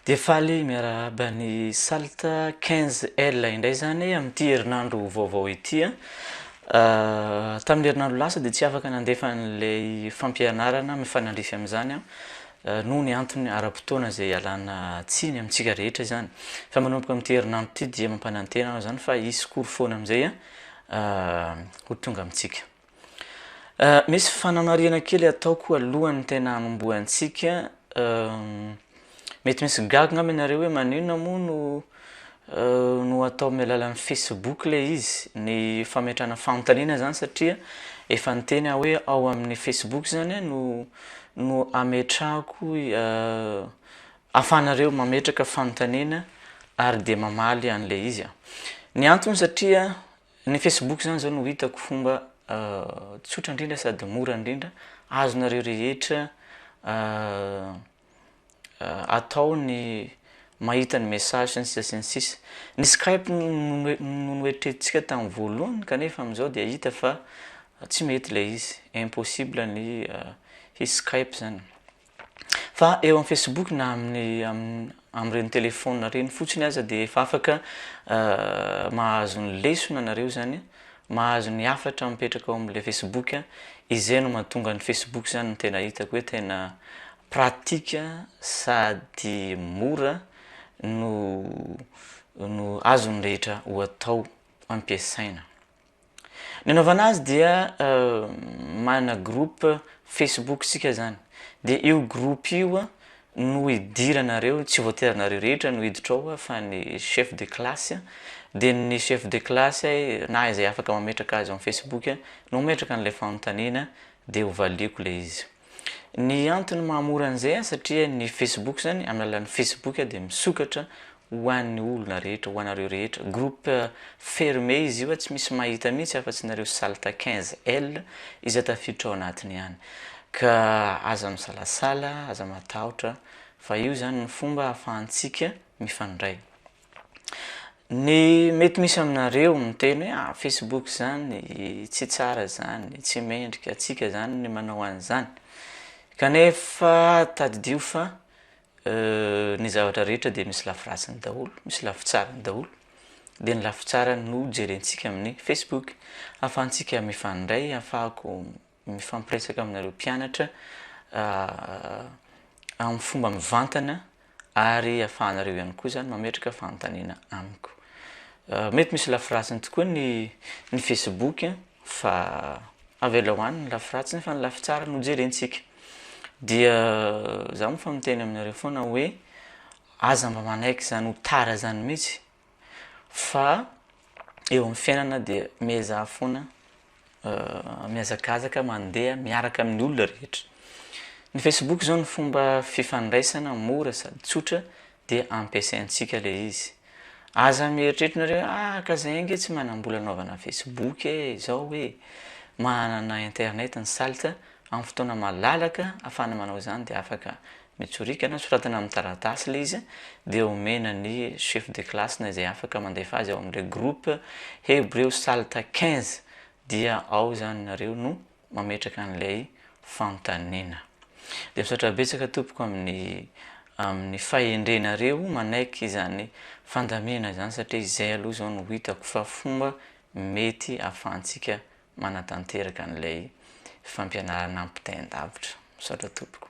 Dia faly miarahaba ny Salt 15L indray izany amin'ity herinandro vaovao ity a! Tamin'ny herinandro lasa dia tsy afaka nandefa an'ilay fampianarana mifanandrify amin'izany aho noho ny antony ara-potoana izay ialana tsiny amintsika rehetra izany. Fa manomboka amin'ity herinandro ity dia mampanantena aho izany fa hisy cours foana amin'izay ho tonga amintsika. Misy fanamarihana kely ataoko alohan'ny tena hanombohantsika, mety misy gaga angamba ianareo hoe maninona moa no no atao amin'ny alalan'ny facebook le izy ny fametrahana fanontaniana zany satria efa niteny aho hoe ao amin'ny facebook zany a no no ametrahako ahafahanareo mametraka fanontaniana ary de mamaly an'le izy aho, ny antony satria Ny Facebook zany zao no hitako fomba tsotra indrindra sady mora indrindra azonareo rehetra atao ny mahita ny message sy ny sisa sy ny sisa. Ny Skype no noeritreretintsika tamin'ny voalohany kanefa amin'izao dia hita fa tsy mety ilay izy, impossible ny hi-Skype zany. Fa eo amin'ny Facebook na amin'ny amin'ireny téléphone ireny fotsiny aza dia efa afaka mahazo ny lesona nareo zany, mahazo ny hafatra mipetraka ao amin'ilay Facebook, izay no mahatonga ny Facebook zany no tena hitako hoe tena pratique sady mora no no azon'ny rehetra ho atao ampiasaina. Ny anaovana azy dia manana groupe Facebook isika zany de io groupe io no hidiranareo tsy voatery anareo rehetra no hiditra ao fa ny chef de classe de ny chef de classe na izay afaka mametraka azy ao amin'ny Facebook no mametraka an'ilay fanontaniana de hovaliako ilay izy. Ny antony mahamora an'izay an, satria ny Facebook zany, amin'ny alalan'ny Facebook an, dia misokatra ho an'ny olona rehetra, ho anareo rehetra. Groupe fermé izy io an, tsy misy mahita mihitsy afa-tsy nareo Salta 15 L izay tafiditra ao anatiny ihany. Ka aza misalasala, aza matahotra, fa io zany ny fomba ahafahantsika mifandray. Ny mety misy aminareo miteny hoe ah facebook izany tsy tsara izany, tsy mendrika antsika izany ny manao an'izany. Kanefa tadidio fa ny zavatra rehetra dia misy lafy ratsiny daholo, misy lafy tsarany daholo, dia ny lafy tsarany no jerentsika amin'ny facebook, ahafahantsika mifandray, ahafahako mifampiresaka aminareo mpianatra amin'ny fomba mivantana ary afahanareo ihany koa zany mametraka fanontaniana amiko mety misy lafiratsiny tokoa ny ny facebook fa avela ho any ny lafiratsy nefa ny lafitsara no jerentsika dia za moa fa miteny aminareo foana hoe aza mba manaiky zany ho tara zany mihitsy Fa eo amin'ny fiainana dia miezaha foana mihazakazaka mandeha miaraka amin'ny olona rehetra. Ny Facebook izao ny fomba fifandraisana mora sady tsotra dia ampiasaintsika ilay izy. Aza mieritreritra nareo hoe ah ka zay ange tsy manam-bola anaovana Facebook e, izao hoe manana internet ny salotra amin'ny fotoana malalaka afahana manao izany dia afaka Mitsorika na soratana amin'ny taratasy ilay izy dia omena ny chef de classe na izay afaka mandefa azy ao amin'ilay groupe hebreo salta quinze dia ao izany nareo no mametraka an'ilay fanontaniana. Dia misaotra betsaka tompoko amin'ny amin'ny fahendrenareo manaiky izany fandaminana izany satria izay aloha izao no hitako fa fomba mety ahafahantsika manatanteraka an'ilay fampianarana ampitain-davitra. Misaotra tompoko.